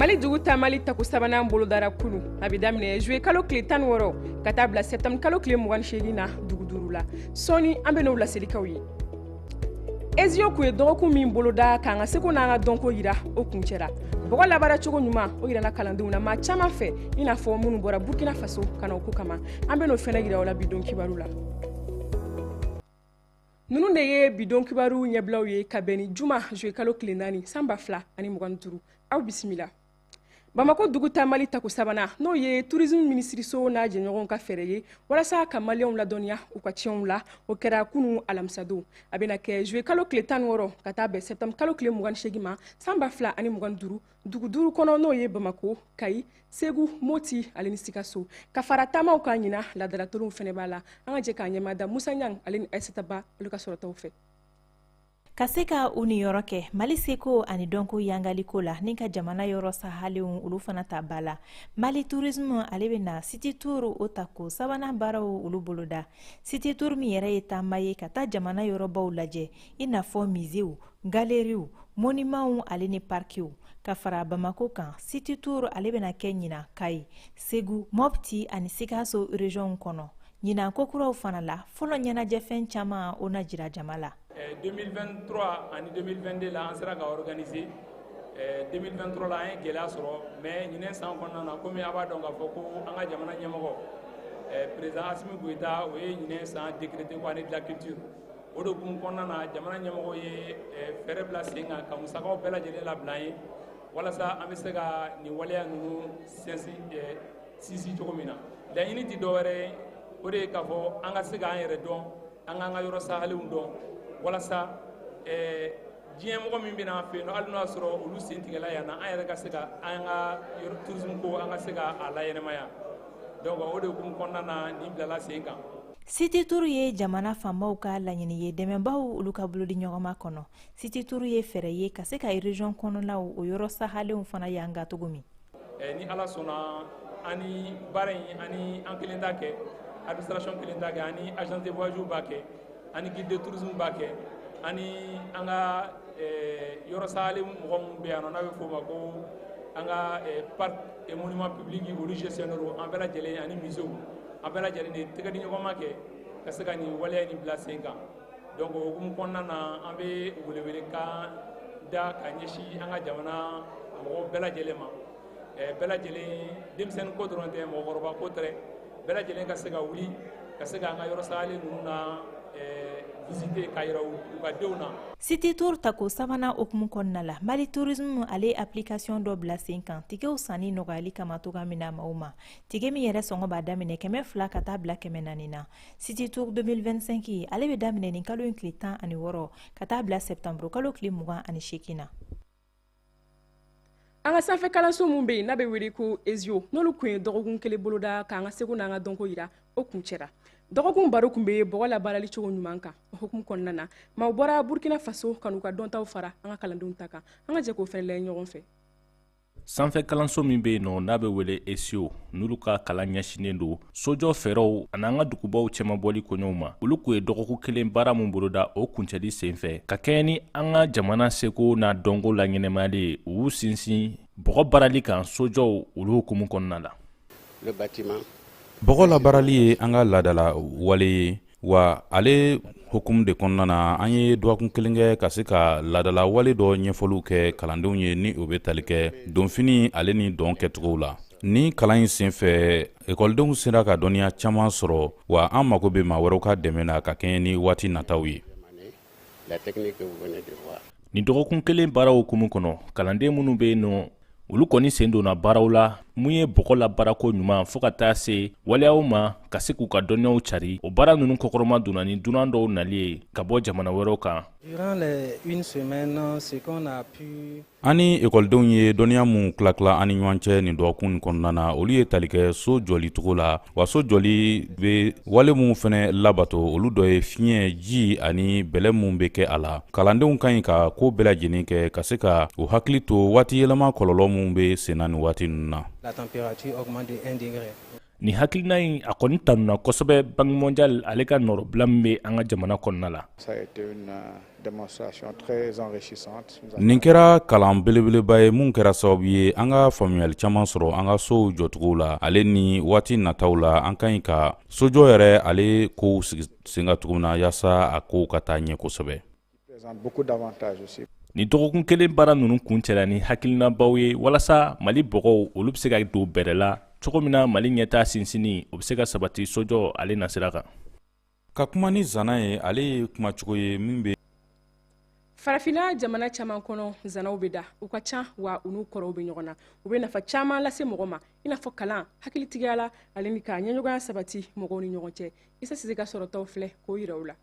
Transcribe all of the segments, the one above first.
mali dugu taamali tako sabanan bolodara kunu a bɛ daminɛ zuye kalo tile tan wɔɔrɔ ka taa bila sɛptanburu kalo tile mugan ni seegin na dugu duuru la sɔɔni an bɛn'o laseli k'aw ye esiau kun ye dɔgɔkun min boloda k'an ka seko n'an ka dɔnko yira o kuncɛra bɔgɔ labaara cogo ɲuman o yirana kalandenw na maa caaman fɛ i n'a fɔ minnu bɔra burkina faso ka na o ko kama an bɛn'o fɛnɛ yira aw la bi don kibaru la nunu de ye bi don kibaru ɲɛbilaw ye ka bɛn ni juma zuwe kalo tile naani san ba fila ani mugan ni duuru aw bisimila bamakɔ dugu taamali tako sabanan n'o ye turisme minisiriso n'a jɛɲɔgɔnw ka fɛɛrɛ ye walasa ka maliyɛnw ladɔnniya u ka tiɲɛw la o kɛra kunu alamisadon a bɛna kɛ juwe kalo tile tan wɔɔrɔ ka taa bɛn sɛptanburu kalo tile mugan seegin ma san ba fila ani mugan duuru dugu duuru kɔnɔ n'o ye bamakɔ kayi segu moti ale ni sikaso ka fara taamaw kan ɲinan laadala tulonw fɛnɛ b'a la an ka jɛ k'a ɲɛmada musa ɲang ale ni aisata ba olu ka sɔrɔtaw fɛ ka se ka u niyɔrɔ kɛ mali seko ani dɔnko yangaliko la ni ka jamana yɔrɔ sahalenw olu fana ta b'a la mali turisme ale bɛna siti tour o tako sabanan baaraw olu boloda siti tour min yɛrɛ ye taama ye ka taa jamana yɔrɔbaw lajɛ i n'a fɔ mizew galeriw monimanw ale ni parkiw ka fara bamako kan siti tour ale bɛna kɛ ɲinan kayi segu mɔpti ani sikaso regionw kɔnɔ ɲinan kokuraw fana la fɔlɔ ɲɛnajɛfɛn caman o na jira jama la 2023 eh, ani 2022 la an sera ka organiser 2023 eh, la an ye gɛlɛya sɔrɔ mais ɲinan san kɔnɔna na komi a b'a dɔn k'a fɔ ko an ka jamana ɲɛmɔgɔ eh, président asimi goyita o ye ɲinan san décrété ko année de la culture o de kun kɔnɔna na jamana ɲɛmɔgɔ ye fɛɛrɛ bila sen kan ka musakaw bɛɛ lajɛlen labila an ye walasa an bɛ se ka nin waleya ninnu sinsin sinsin cogo min na laɲini tɛ dɔwɛrɛ ye o de ye k'a fɔ an ka se k'an yɛrɛ dɔn an k'an ka yɔrɔ sahalenw dɔn walasa eh, diɲɛ mɔgɔ min bɛ na an fɛ yan nɔ hali n'o y'a sɔrɔ olu sen tigɛla yan na an yɛrɛ ka se ka an ka tourisme ko an ka se ka a laɲɛnamaya donc o de hukumu kɔnɔna na nin bilala sen kan siti turu ye jamana fanbaw ka laɲini ye dɛmɛbaw olu ka bolodiɲɔgɔnma kɔnɔ siti turu ye fɛɛrɛ ye ka se ka region kɔnɔnaw o yɔrɔ sahalenw fana yanga cogo min eh, ni ala sɔnna an ni baara in an ni an kelen t'a kɛ administration kelen t'a kɛ an ni agence de voyage b'a kɛ an ni guide de tourisme b'a kɛ an ni an ka eh, yɔrɔ sahalen mɔgɔ minnu bɛ yan nɔ n'a bɛ f'o ma ko an ka eh, parc et monument public olu gestionnaire an bɛɛ lajɛlen ani musée an bɛɛ lajɛlen de tɛgɛ di ɲɔgɔn ma kɛ ka se ka nin waleya in bila sen kan donc o hukumu kɔnɔna na an bɛ welewelekan da ka ɲɛsin an ka jamana mɔgɔw bɛɛ lajɛlen ma eh, bɛɛ lajɛlen denmisɛnni ko dɔrɔn tɛ mɔgɔkɔrɔba ko tɛ bɛɛ lajɛlen ka se ka wuli ka se k'an ka yɔrɔ sagalen ninnu na eh, visiter k'a yira u ka denw na City Tour tako sabanan o hukumu kɔnɔna la Mali Tourisme ale ye application dɔ bila sen kan tikɛw sanni nɔgɔyali kama cogo min na maaw ma tikɛ min yɛrɛ sɔngɔ b'a daminɛ kɛmɛ fila ka taa bila kɛmɛ naani na City Tour 2025 ale bɛ daminɛ nin kalo in tile tan ani wɔɔrɔ ka taa bila septembre kalo tile mugan ani seegin na. an ka sanfɛ kalanso min bɛ yen n'a bɛ wele ko ESIAU n'olu tun ye dɔgɔkun kelen boloda k'an ka seko n'an ka dɔnko yira o kuncɛra dɔgɔkun baro tun bɛ bɔgɔ labaarali cogo ɲuman kan o hukumu kɔnɔna na maaw bɔra burkina faso ka n'u ka dɔntaw fara an ka kalandenw ta kan an ka jɛ k'o fana lajɛ ɲɔgɔn fɛ sanfɛ kalanso min bɛ yen nɔ n'a bɛ wele ESIAU n'olu ka kalan ɲɛsinen don sojɔ fɛɛrɛw an'an ka dugubaw cɛmabɔli koɲɛw ma olu tun ye dɔgɔkun kelen baara min boloda o kuncɛli senfɛ ka kɛɲɛ ni an ka jamana seko n'a dɔnko laɲɛnamayali ye u y'u sinsin bɔgɔ baarali kan sojɔw olu hukumu kɔnɔna la bɔgɔ labaarali ye an ka laadala wale ye wa ale hukumu de kɔnɔna na an ye dɔgɔkun kelen kɛ ka se ka laadala wale dɔ ɲɛfɔliw kɛ kalandenw ye ni o bɛ tali kɛ donfini ale ni dɔn kɛcogow la ni kalan in sen fɛ ekɔlidenw sera ka dɔnniya caman sɔrɔ wa an mago bɛ maa wɛrɛw ka dɛmɛ na ka kɛɲɛ ni waati nataw ye Nin dɔgɔkun kelen baara hukumu kɔnɔ, kalanden minnu bɛ yen nɔ, olu kɔni sen donna baaraw la, mun ye bɔgɔ labaara koɲuman fo ka taa se waleyaw ma ka se k'u ka dɔnniyaw carin. O baara ninnu kɔkɔrɔmadonna ni dunan dɔw nali ye ka bɔ jamana wɛrɛw kan. an ni ekɔlidenw ye dɔnniya minw tilatila an ni ɲɔgɔn cɛ nin dɔgɔkun kɔnɔna na olu ye tali kɛ so jɔli cogo la wa so jɔli bɛ wale minw fana labato olu dɔ ye fiɲɛ ji ani bɛlɛ minw bɛ kɛ a la kalandenw ka ɲi ka ko bɛɛ lajɛlen kɛ ka se ka u hakili to waati yɛlɛma kɔlɔlɔ minw bɛ senna nin waati ninnu na nin hakilina in a kɔni tanuna kosɛbɛ Banque mondiale ale ka nɔrɔbila min bɛ an ka jamana kɔnɔna la nin kɛra kalan belebeleba ye min kɛra sababu ye an ka faamuyali caman sɔrɔ an ka sow jɔcogow la ale ni waati nataw la an ka ɲi ka sojɔ yɛrɛ ale kow sigi sen kan cogo min na yaasa a kow ka taa ɲɛ kosɛbɛ ni dɔgɔkun kelen baara ninnu kuncɛla ni hakilinabaw ye walasa mali bɔgɔw olu bɛ se ka don bɛrɛ la cogo min na mali ɲɛtaa sinsinni o bɛ se ka sabati sojɔ ale nasira kan ka kuma ni zana ye ale ye kumacogo ye min bɛ farafina jamana caman kɔnɔ zanaw bɛ da u ka ca wa u n'u kɔrɔw bɛ ɲɔgɔn na u bɛ nafa caman lase mɔgɔ ma i n'a fɔ kalan hakilitigiya la ale ni ka jɛɲɔgɔnya sabati mɔgɔw ni ɲɔgɔn cɛ isa sise ka sɔrɔtaw filɛ k'o yira aw la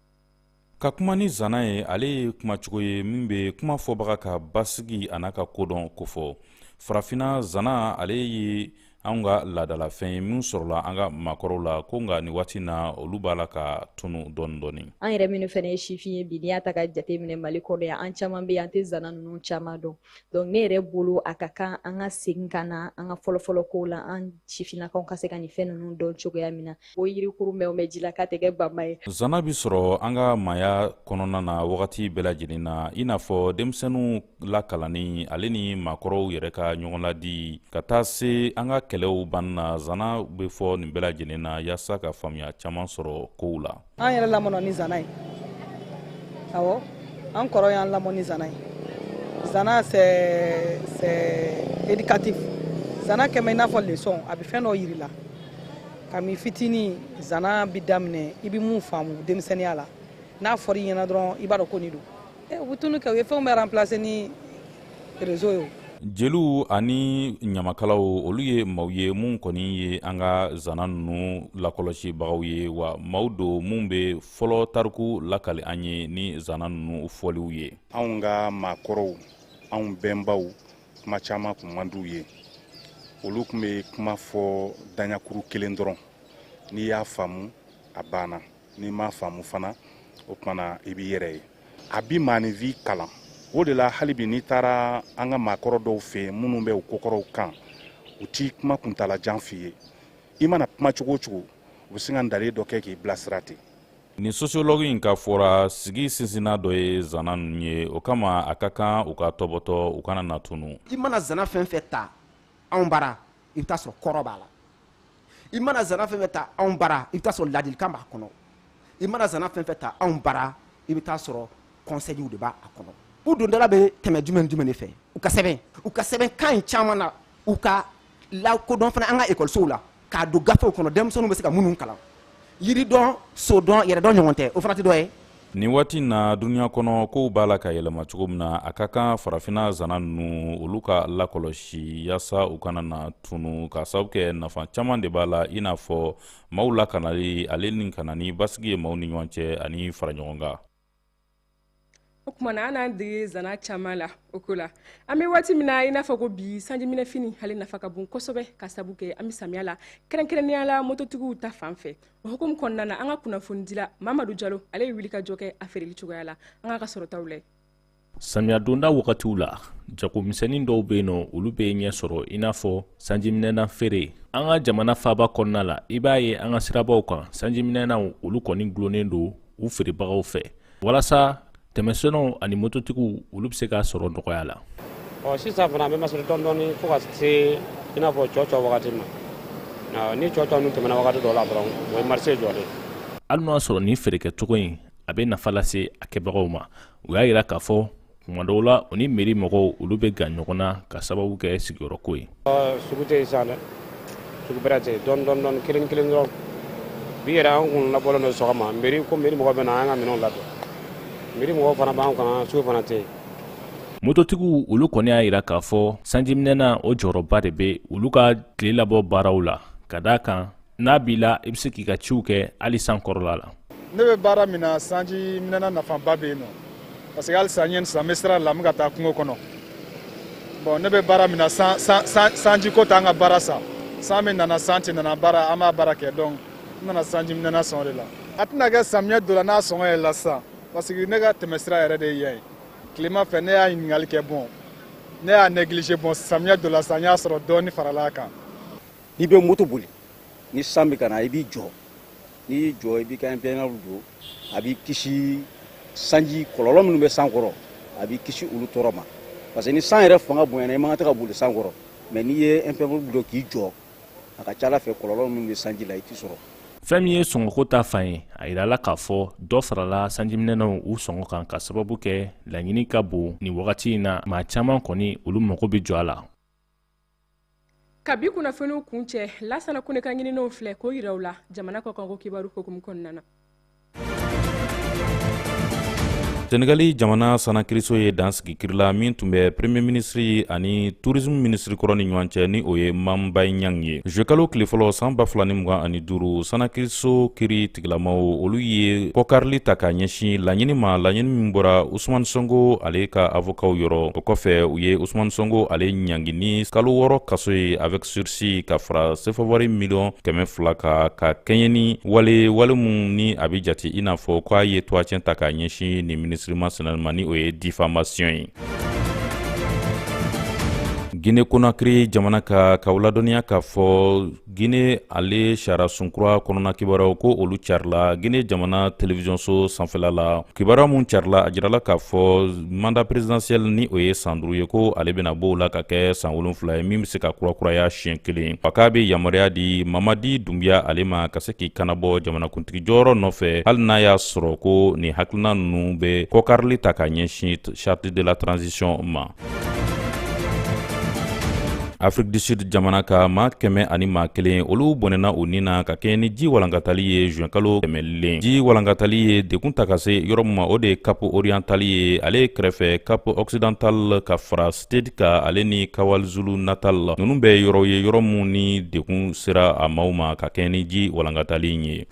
ka kuma ni zana ye ale ye kumacogo ye min bɛ kuma fɔbaga ka basigi an'a ka kodɔn kofɔ farafinna zana ale ye anw ka laadalafɛn ye min sɔrɔla an ka maakɔrɔw la ko nka nin waati in na olu b'a la ka tunu dɔɔni dɔɔni an yɛrɛ minnu fana ye sifin ye bi n'i y'a ta ka jate minɛ mali kɔnɔ yan an caman bɛ an tɛ zana ninnu caman dɔn donc ne yɛrɛ bolo a ka kan an ka segin ka na an ka fɔlɔfɔlɔ kow la an sifinnakaw ka se ka nin fɛn ninnu dɔn cogoya min na o yirikuru mɛn mɛn ji la k'a tɛ kɛ bama ye zana bɛ sɔrɔ an ka maaya kɔnɔna na wagati bɛɛ lajɛlen na i n'a fɔ denmisɛnninw lakalanni ale ni maakɔrɔw yɛrɛ ka ɲɔgɔnladi ka taa se an ka kɛlɛw banni na zana bɛ fɔ nin bɛɛ lajɛlen na yaasa ka faamuya caman sɔrɔ kow la an yɛrɛ lamɔna ni zana ye awɔ an kɔrɔ y'an lamɔ ni zana ye zana c'est c'est éducatif zana kɛlen bɛ i n'a fɔ leçon a bɛ fɛn dɔ yira i la kami fitini zana bi daminɛ i bɛ min faamu denmisɛnniya la n'a fɔra i ɲɛna dɔrɔn i b'a dɔn ko nin don eh, u bɛ tunu kɛ u ye fɛnw bɛɛ remplacer ni réseau ye jeliw ani ɲamakalaw olu ye maw ye minnu kɔni ye an ka zana ninnu lakɔlɔsibagaw ye wa maw don minnu bɛ fɔlɔ tariku lakali an ye ni zana ninnu fɔliw ye anw ka maakɔrɔw anw bɛnbaw kuma caman kun man d'u ye olu kun bɛ kuma fɔ daɲakuru kelen dɔrɔn n'i y'a faamu a banna n'i m'a faamu fana o tumana i b'i yɛrɛ ye a bi maaninfin kalan o de la hali bi n'i taara an ka maakɔrɔ dɔw fɛ yen minnu bɛ u kokɔrɔw kan u ti kuma kuntala jan f'i ye i mana kuma cogo o cogo u bɛ se ka ntalen dɔ kɛ k'i bilasira ten nin sociologue in ka fɔ ra sigi sinsinnan dɔ ye zana ninnu ye o kama a ka kan u ka tɔbɔtɔ u kana na tunu i mana zana fɛn fɛn ta anw bara i bɛ taa sɔrɔ kɔrɔ b'a la i mana zana fɛn fɛn ta anw bara i bɛ taa sɔrɔ ladilikan b'a kɔnɔ i mana zana fɛn fɛn ta anw bara i bɛ taa sɔrɔ conseils de b'a kɔnɔ u dondala bɛ tɛmɛ jumɛn jumɛn de fɛ u ka sɛbɛn u ka sɛbɛn kan in caman na u ka lakodɔn fana an ka ekɔlisow la k'a don gafew kɔnɔ denmisɛnninw bɛ se ka minnu kalan yiri dɔn so dɔn yɛrɛ dɔn ɲɔgɔn tɛ o fana tɛ dɔ ye nin waati in na duniɲa kɔnɔ kow b'a la ka yɛlɛma cogo min na a ka kan farafinna zana ninnu olu ka lakɔlɔsi yaasa u kana na tunu k'a sababu kɛ nafa caman de b'a la i n'a fɔ maaw lakanali ale ni ka na ni basigi ye maaw ni ɲɔgɔn cɛ ani faraɲɔgɔnkan o tuma na an n'an dege zana caman la o ko la an bɛ waati min na i n'a fɔ ko bi sanjiminɛfini ale nafa ka bon kosɛbɛ k'a sabu kɛ an bɛ samiya la kɛrɛnkɛrɛnnenya la mototigiw ta fan fɛ o hukumu kɔnɔna na an ka kunnafonidila mamadu jalo ale ye wulikajɔ kɛ a feereli cogoya la an k'a ka sɔrɔtaw lajɛ samiya donda wagatiw la jagomisɛnnin dɔw bɛ yen nɔ olu bɛ ɲɛ sɔrɔ i n'a fɔ sanjiminɛna feere an ka jamana faaba kɔnɔna la i b'a ye an ka sirabaw kan sanjiminɛnaw olu kɔni gulonnen don u feerebagaw fɛ walasa tɛmɛsɛnw ani mototigiw olu bɛ se k'a sɔrɔ nɔgɔya la ɔ sisan fana an bɛ masiri dɔndɔɔni fo ka se i n'a fɔ cɔcɔ wagati ma ni cɔcɔ ninnu tɛmɛna wagati dɔ la dɔrɔn o ye marché jɔlen hali n'o y'a sɔrɔ nin feerekɛcogo in a bɛ nafa lase a kɛbagaw ma u y'a jira k'a fɔ tuma dɔw la u ni meri mɔgɔw olu bɛ gan ɲɔgɔn na ka sababu kɛ sigiyɔrɔko ye sugu tɛ yen sisan dɛ sugu bɛrɛ tɛ yen dɔɔni dɔɔni dɔɔni kelen kelen dɔrɔn bi yɛrɛ an kun labɔlen don sɔgɔma meri ko meri mɔgɔ bɛ na an ka minɛnw ladon meri mɔgɔw fana b'an kan sugu fana tɛ yen mototigiw olu kɔni y'a jira k'a fɔ sanjiminɛna o jɔyɔrɔba de bɛ olu ka tile labɔ baaraw la ka d'a kan n'a b'i la i bɛ se k'i ka ciw kɛ hali san kɔrɔla la ne bɛ baara min na sanjiminɛna nafaba bɛ yen nɔ parce que halisa n ye nin san n bɛ sira la n bɛ ka taa kungo kɔnɔ bon ne bɛ baara min na sanjiko t'an ka baara sa san min nana san tɛ nana baara an b'a baara kɛ donc n nana sanjiminɛna sɔngɔ de la a tɛna kɛ samiyɛ donna n'a sɔngɔ yɛlɛla sisan parce que ne ka tɛmɛsira yɛrɛ de ye yan ye tilema fɛ ne y'a ɲininkali kɛ bon ne y'a neglige bon samiyɛ donna sisan n y'a sɔrɔ dɔɔni farala a kan n'i bɛ moto boli ni san bɛ ka na i b'i jɔ n'i y'i jɔ i b'i ka impermeable don a b'i kisi sanji kɔlɔlɔ minnu bɛ san kɔrɔ a b'i kisi olu tɔɔrɔ ma parce que ni san yɛrɛ fanga bonyana i man kan tɛ ka boli san kɔrɔ mais n'i ye impermeable don k'i jɔ a ka ca ala fɛ kɔlɔlɔ minnu bɛ sanji la u t'i sɔrɔ fɛn min ye sɔngɔko ta fan ye a yirala k'a fɔ dɔ farala sanjiminɛnaw u sɔngɔ kan ka sababu kɛ laɲini ka bon nin wagati in na maa caman kɔni olu mago bɛ jɔ a la ka bi kunnafoniw kuncɛ lasana kone ka ɲininenw filɛ k'o yira aw la jamana kɔkanko kibaru hukumu kɔnɔna na senegali jamana sanna kiriso ye dan sigi kiri la min tun bɛ premier minisiri ani tourisme minisiri kɔrɔ ni ɲɔgɔn cɛ ni o ye mambayi ɲang ye zuyekalo tile fɔlɔ san ba fila ni mugan ani duuru sanna kiriso kiri tigilamaw olu ye kɔkarili ta ka ɲɛsin laɲini ma laɲini min bɔra usumani sonko ale ka avokaw yɔrɔ o kɔfɛ u ye usumani sonko ale ɲangi ni kalo wɔɔrɔ kaso ye avec sursi ka fara sefawari miliyɔn kɛmɛ fila kan ka kɛɲɛ ni wale wale min ni a bɛ jate i n'a fɔ k'a ye tɔgɔtiɲɛ ta k'a ɲɛsin nin minisiri masina nin ma ni o ye difamasiɔn ye guinee konakiri jamana kan k'aw ladɔnniya k'a fɔ Guinee ale sariyasun kura kɔnɔna kibaruyaw ko olu carila Guinee jamana telewisiyonso sanfɛla la. Kibaruya min carila, a jirala k'a fɔ mandat presidentiel ni o ye san duuru ye, ko ale bɛna bɔ o la ka kɛ san wolonwula ye, min bɛ se ka kurakuraya siɲɛ kelen. A k'a bɛ yamaruya di Mamadi Dunbiya ale ma ka se k'i kanabɔ jamanakuntigi jɔyɔrɔ nɔfɛ, hali n'a y'a sɔrɔ ko nin hakilina ninnu bɛ kɔkarili ta ka ɲɛsin charte de la transition ma. afrique du sud jamana ka maa kɛmɛ ani maa kelen olu bɔnɛna u ni na ka kɛɲɛ ni ji walankatali ye zuwɛnkalo tɛmɛlen ji walankatali ye degun ta ka se yɔrɔ min ma o de ye cap oriental ye ale kɛrɛfɛ cap occidental ka fara state kan ale ni kwazulu natal ninnu bɛ yɔrɔw ye yɔrɔ minnu ni degun sera a maaw ma ka kɛɲɛ ni ji walankatali ye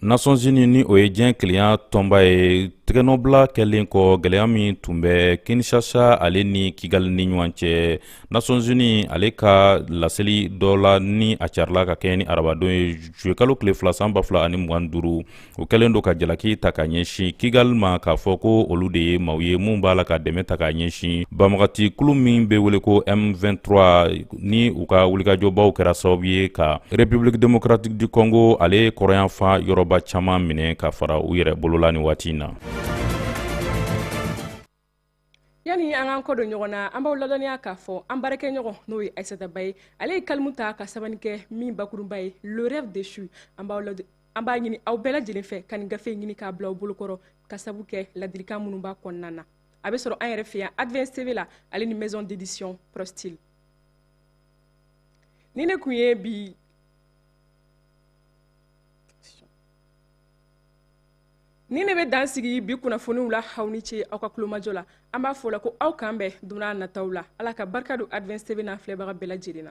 nations unies ni o ye diɲɛ kelenya tɔnba ye tɛgɛnɔbila kɛlen kɔ gɛlɛya min tun bɛ kinshasa ale ni kigali ni ɲɔgɔn cɛ nations unies ale ka laseli dɔ la ni a carila ka kɛɲɛ ni arabadon ye zuyekalo tile fila san ba fila ani mugan duuru o kɛlen don ka jalaki ta ka ɲɛsin kigali ma k'a fɔ ko olu de ye maaw ye minnu b'a la ka dɛmɛ ta ka ɲɛsin banbaganci kulu min bɛ wele ko m23 ni u ka wulikajɔbaw kɛra sababu ye ka république démocratique du congo ale kɔrɔnyanfan yɔrɔba caman minɛ ka fara u yɛrɛ bolola nin waati in na yani an k'an kɔ don ɲɔgɔn na an b'aw ladɔnniya k'a fɔ an baarakɛɲɔgɔn n'o ye aissata ba ye ale ye kalimu ta ka sɛbɛnni kɛ min bakurunba ye le rêve déchu an b'aw an b'a ɲini aw bɛɛ lajɛlen fɛ ka nin gafe ɲini k'a bila aw bolokɔrɔ ka sabu kɛ ladilikan minnu b'a kɔnɔna na a bɛ sɔrɔ an yɛrɛ fɛ yan advance tv la ale ni maison d'édition prostyle ni ne kun ye bi ni ne bɛ dan sigi bi kunnafoniw la aw ni ce aw ka tulomajɔ la an b'a fɔ la ko aw k'an bɛn don na nataw la ala ka barika don advance tv n'a filɛbaga bɛɛ lajɛlen na